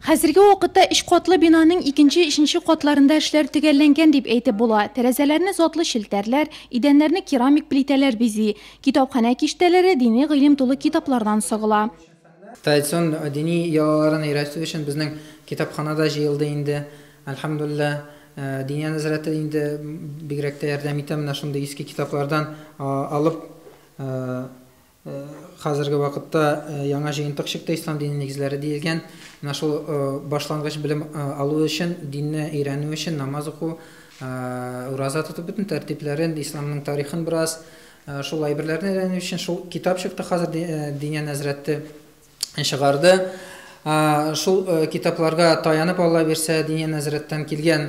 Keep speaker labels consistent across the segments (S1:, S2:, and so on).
S1: Хәзерге вакытта өч катлы бинаның икенче, өченче катларында эшләр төгәлләнгән дип әйтеп була. Тәрәзәләрне затлы челтәрләр, идәннәрне керамик плитәләр бизи. Китапханә киштәләре дини гыйлем тулы китаплардан сыгыла. Традицион
S2: дини йолаларын өйрәтү өчен безнең китапхана да җыелды инде. Әлхәмдүлилләһ, Диния нәзарәте инде бигрәк тә ярдәм итә, менә шундый иске китаплардан алып, Хәзерге вакытта яңа җыентык чыкты, Ислам дине нигезләре диелгән. Менә шул башлангыч белем алу өчен, динне өйрәнү өчен намаз уку, ураза тоту, бөтен тәртипләрен, исламның тарихын бераз, шул әйберләрне өйрәнү өчен шул китап чыкты хәзер Диня нәзрәте. чыгарды. Шул китапларга таянып Алла бирсә, дини нәзарәттән килгән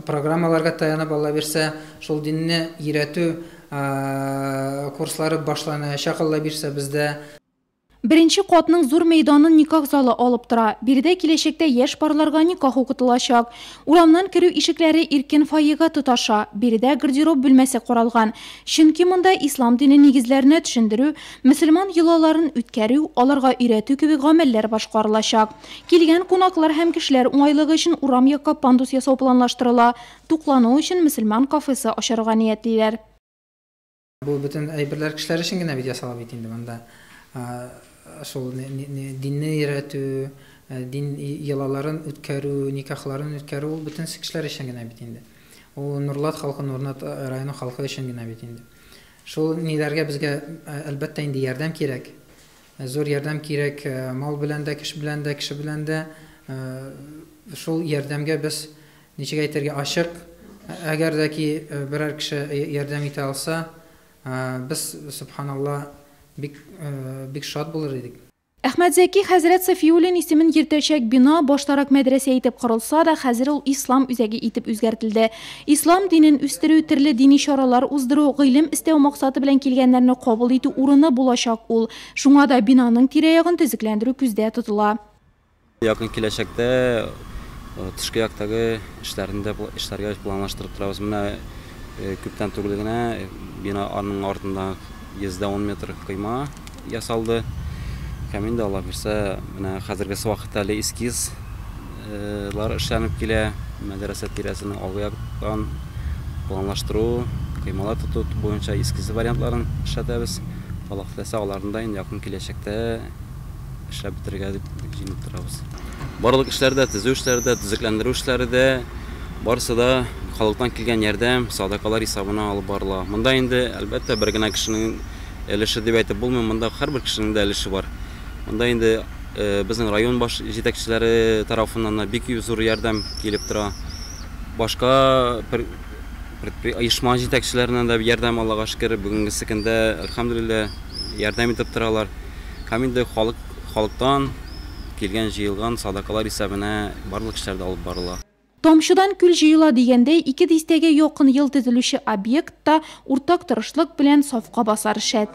S2: программаларга таянып Алла бирсә, шул динне өйрәтү курслары башланачак Алла бирсә бездә. Беренче
S1: катның зур мәйданын никах залы алып тора. Биредә киләчәктә яшь парларга никах укытылачак. Урамнан керү ишекләре иркен фойега тоташа. Биредә гардероб бүлмәсе каралган. Чөнки монда ислам дине нигезләренә төшендерү, Мөселман йолаларын үткәрү, аларга өйрәтү кебек гамәлләр башкарылачак. Килгән кунаклар һәм кешеләр уңайлыгы өчен урам якка пандус ясау планлаштырыла, туклану өчен мөселман кафесы ачарга ниятлиләр.
S2: Бу бөтен әйберләр кешеләр өчен генә бит ясала бит инде, монда шул динне өйрәтү, дин йолаларын үткәрү, никахларын үткәрү ул бөтенесе кешеләр өчен генә бит инде. Ул Нурлат халкы, Нурлат районы халкы өчен генә бит инде. Шул ниләргә безгә, әлбәттә инде, ярдәм кирәк. Зур ярдәм кирәк мал белән дә, кеше белән дә, кеше белән дә. Шул ярдәмгә без, ничек әйтергә, ачык. Әгәр дә ки берәр кеше ярдәм итә алса, без, сөбханалла, бик, бик шат булыр идек. Әхмәтзәки
S1: хәзрәт Сафиуллин исемен йөртәчәк бина баштарак мәдрәсә итеп корылса да, хәзер ул Ислам үзәге итеп үзгәртелде. Ислам динен үстерү, төрле дини чаралар уздыру, гыйлем эстәү максаты белән килгәннәрне кабул итү урыны булачак ул. Шуңа да бинаның тирә-ягын төзекләндерү күздә тотыла. Якын
S3: киләчәктә тышкы яктагы эшләрне дә эшләргә планлаштырып торабыз. Менә күптән түгел генә бина аның артында 110 метр койма ясалды. Һәм инде Аллаһ бирсә, менә хәзергесе вакытта әле эскиз лар эшләнеп килә. Мәдрәсә тирәсенең алгы яктан планлаштыру, коймалар тоту буенча эскиз вариантларын эшләтәбез. Аллаһ теләсә, аларны да инде якын киләчәктә эшләп бетерергә дип җыенып торабыз. Барлык эшләр дә, төзү эшләре дә, төзекләндерү эшләре дә, барысы да халыктан килгән ярдәм, садакалар исәбенә алып барыла. Монда инде, әлбәттә, бер генә кешенең өлеше дип әйтеп булмый, монда һәрбер кешенең дә өлеше бар. Монда инде безнең район баш җитәкчеләре тарафыннан да бик зур ярдәм килеп тора. Башка оешма җитәкчеләреннән дә ярдәм Аллага шөкер, бүгенгесе көндә, әлхәмдүлилләһ, ярдәм итеп торалар. Һәм инде халык, халыктан килгән җыелган садакалар исәбенә барлык эшләр дә алып барыла. Тамчыдан күл
S1: җыела дигәндәй, ике дистәгә якын ел төзелүче объект та уртак тырышлык белән сафка басар шәт.